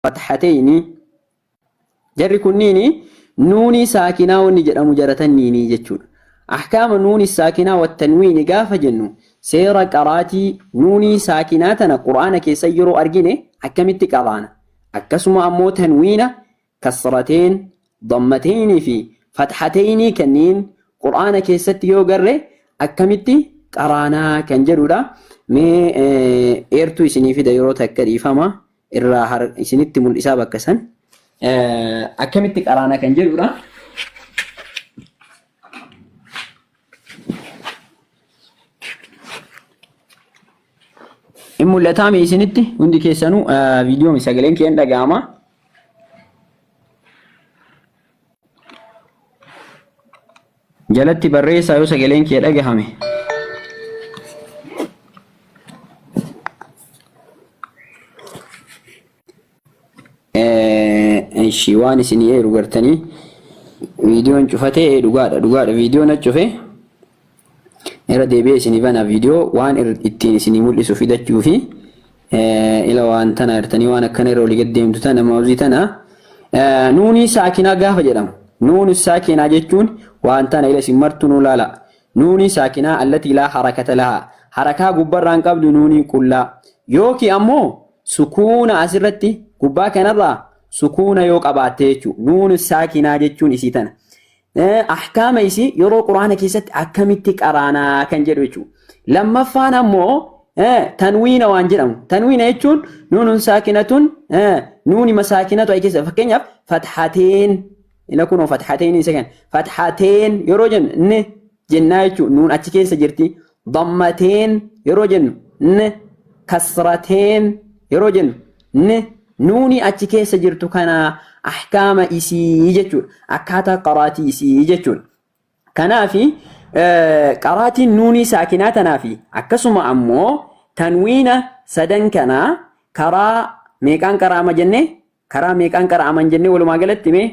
fathatayni jarri kunniini nuunii saakinaa wanni jedhamu jara tanniini jechuudha ahkaama nuuni saakinaa wattanwiini gaafa jennu seera qaraatii nuunii saakinaa tana qur'aana keessa yeroo argine akkamitti qaraana akkasuma ammoo tanwiina kasrateen dammatayni fi fathatayni kanniin qur'aana keessatti yoo garre akkamitti qaraanaa kan jedhudha mee eertuu isinii fida yeroo takka dhiifama irraa har isinitti mul'isaa bakka san eh, akkamitti qaraana kan jedhudha. In mul'ataa mee isinitti hundi keessanuu eh, viidiyoon sagaleen kee hin dhaga'ama. jalatti barreessaa yoo sagaleen kee dhagahame. Ishi waan isin eeru gartanii viidiyoon cufatee dhugaadha dhugaadha viidiyoon acufe Irra deebi'ee isinii bana viidiyoo waan ittiin isinii mul'isu fidachuu fi ila waan tana artanii waan akkana irra olii gad deemtu tana maawuzii tana nuunii saakinaa gaafa jedhamu nuun saakinaa jechuun waan tana ila isin martu nuu laala nuunii saakinaa allatii laa harakata lahaa harakaa gubbarraan qabdu nuunii qullaa yookiin ammoo sukuuna asirratti gubbaa kanarraa sukuuna yoo qabaatte jechuudha nuun saakinaa jechuun isii tana ahkaama isii yeroo quraana keessatti akkamitti qaraanaa kan jedhu jechuudha. Lammaffaan ammoo tanwiina waan jedhamu. Tanwiina jechuun nuunuun saakinatuun nuuni masaakinatu ayi keessa fakkeenyaaf fathateen ila kunoo fathateen isa kan fathateen yeroo jennu jennaa jechuun nuun achi keessa jirti dammateen yeroo jennu n kasrateen yeroo jennu n nuuni achi keessa jirtu kana ahkaama isii jechuudha akkaataa qaraatii isii jechuudha kanaafi qaraatiin nuunii saakinaa tanaafi akkasuma ammoo tanwiina sadan kana karaa meeqaan qaraama jenne Karaa meeqaan qara'aman jennee walumaa galatti mee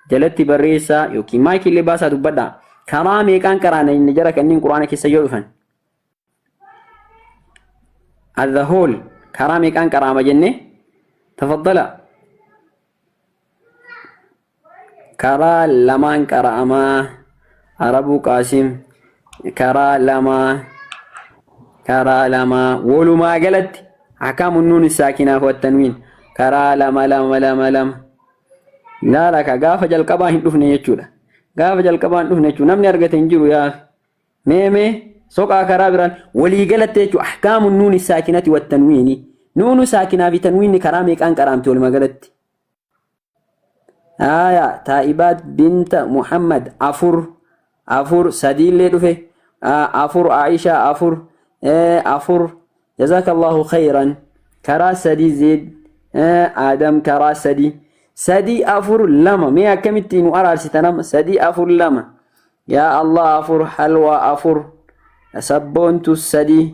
jalatti barreessaa yookiin maayikii illee baasaa dubbadhaa. Karaa meeqaan qaraana inni jara kanneen quraana keessa yoo dhufan. As the whole karaa meeqaan qaraama jennee tafaddala. Karaa lamaan qara'amaa Arabuu Qaasim karaa lamaa karaa lamaa walumaa galatti akaamu nuun saakinaa wattanwiin karaa lama lama lama lama laala ka gaafa jalqabaa hin dhufne jechuudha gaafa jalqabaa hin dhufne jechuudha namni argate hin jiru yaa mee mee soqaa karaa biraan walii galatti jechuudha akaamu nuun saakinati wattanwiini nuunu saakinaa fi tanwiinni karaa meeqaan qaraamti walumaa galatti aya taa'ibaat binta muhammad afur afur sadiillee dhufe afur aisha afur afur jazakallahu khayran karaa sadii zeed aadam karaa sadii sadii afur lama mee akkamitti nu araarsita nama sadii afur lama yaa allah afur halwaa afur sabboontu sadii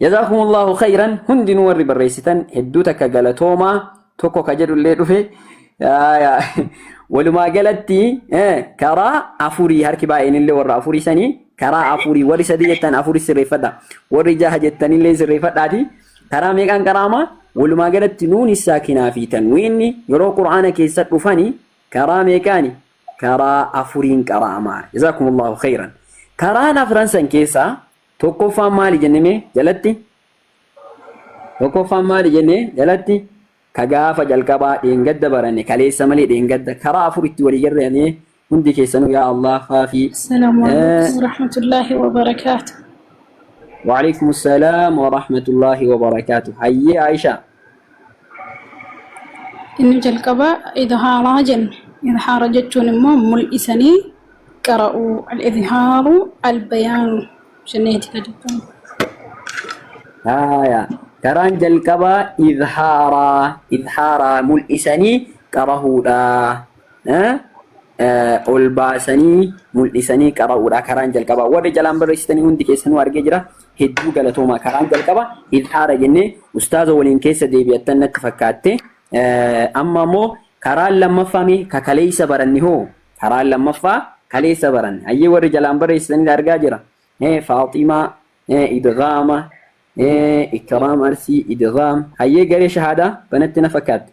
Jazaakumullaahu khayran hundinuu warri barreessitan hedduu takka galatoomaa tokko ka jedhullee dhufe Aayaa. walumaa galatti eh, karaa afurii harki baay'eenillee warra afurii sanii karaa afurii warri sadii jettan afurii sirreeffadha warri jaha jettanillee sirreeffadhaati karaa meeqaan qaraama walumaa galatti nuuni saakinaa fi tanwiinni yeroo qur'aana keessa dhufani karaa meeqaani karaa afuriin qaraama jazaakumullahu khayran karaan afran san keessaa Tokkoffaan maali jenne mee jalatti? Tokkoffaan maali jenne jalatti? Ka gaafa jalqabaa dheengadda baranne kaleessa malee dheengadda karaa afuritti walii garreeyame hundi keessanuu yaa Allah faafii. Assalaamu alaikum warahmatullaahi wabarakaatu. Waalaikum salaam warahmatullaahi wabarakaatu. Hayyee Aishaa. Inni jalqabaa idhaaraa jenna. Idhaara jechuun immoo mul'isanii qara'uu. Al-idhaaru al-bayaanu jenneeti gadi kan. Haaya. Karaan jalqabaa idhaaraa idhaaraa mul'isanii qarahuudha. Ol baasanii mul'isanii qara'uudha karaan jalqabaa. Warri jalaan barreessitanii hundi keessanuu argee jira. hedduu galatoomaa karaan jalqaba ilhaara jennee ustaaza waliin keessa deebi'attan natti fakkaatte amma ammoo karaan lammaffaa mee ka kaleessa baranne hoo karaan lammaffaa kaleessa baranne hayyee warri jalaan barreessitan argaa jira faaximaa idgaama ikraam arsii idgaam hayyee garee shahaadaa banatti na fakkaatte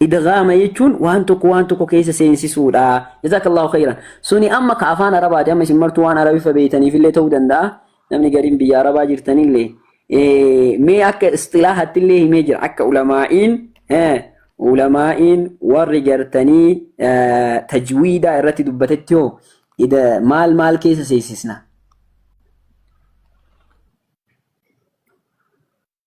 Idghaama jechuun waan tokko waan tokko keessa seensisuudha. Jazaakallaahu khayran. Suni amma ka afaan Arabaati. Amma isin martuu waan Arabiffa beeytaniif illee ta'uu danda'a. Namni gariin biyya Arabaa jirtan illee. Eh, Mee akka istilaahaatti illee himee jira. Akka ulamaa'iin eh, ulamaa'iin warri gartanii eh, tajwiidaa irratti dubbatetti hoo ida- maal maal keessa seensisna?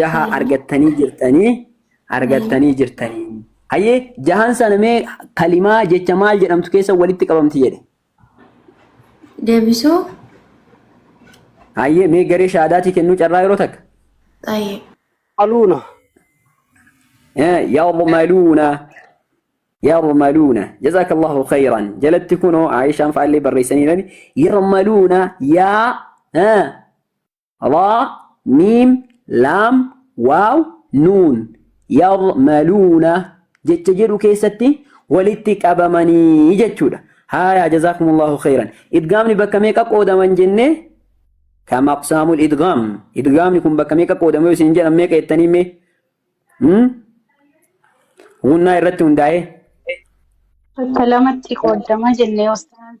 jaha argattanii jirtanii argattanii jirtanii. Hayyee jahan sana mee kalimaa jecha maal jedhamtu keessa walitti qabamti jedhe. Deebisuu. Hayyee mee garee shaadaatii kennuu carraa yeroo takka. Xayyee. Aluuna. Yarmaluuna. Yarmaluuna. Jazaakallahu khayran. Jalatti kunoo Aayishaan faallee barreessaniirani. Yarmaluuna yaa Raa, Miim, Laam, Waaw, Nuun, Ya'maluuna jecha jedhu keessatti walitti qabamanii jechuudha. Haayaa jazaakumullahu khayran. Idgaamni bakka meeqa qoodaman jennee? Kam aqsaamul idgaam. Idgaamni kun bakka meeqa qoodama yoo isin jedhan meeqa jettanii mee? Hmm? Gunnaa irratti hundaa'ee. Bakka lamatti qoodama jennee ostaan.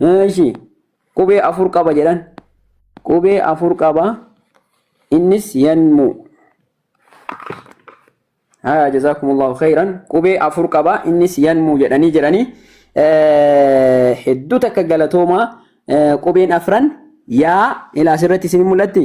Eeshi qubee afur qaba jedhan. Qubee afur qaba. Innis yanmuu. Haa jazaakumullaahu khayran. Qubee afur qaba. Innis yanmuu jedhanii jiranii. Hedduu takka galatoomaa qubeen afran yaa ilaa asirratti isin mul'atti.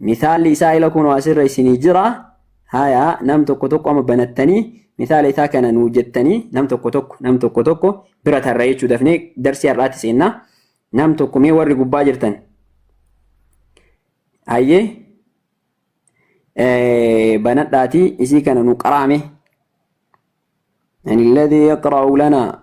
Misaalli isaa ila kunoo asirra isinii jira. Haya nam tokko tokko amma banattanii misaala isaa kana nuu jettanii nam tokko tokko nam tokko tokko bira tarra jechuu dafnee darsii har'aatti seenna. Nam tokko mee warri gubbaa jirtan. Hayyee banadhaatii isii kana nu qaraame. Ani alladhi yaqra'u lanaa.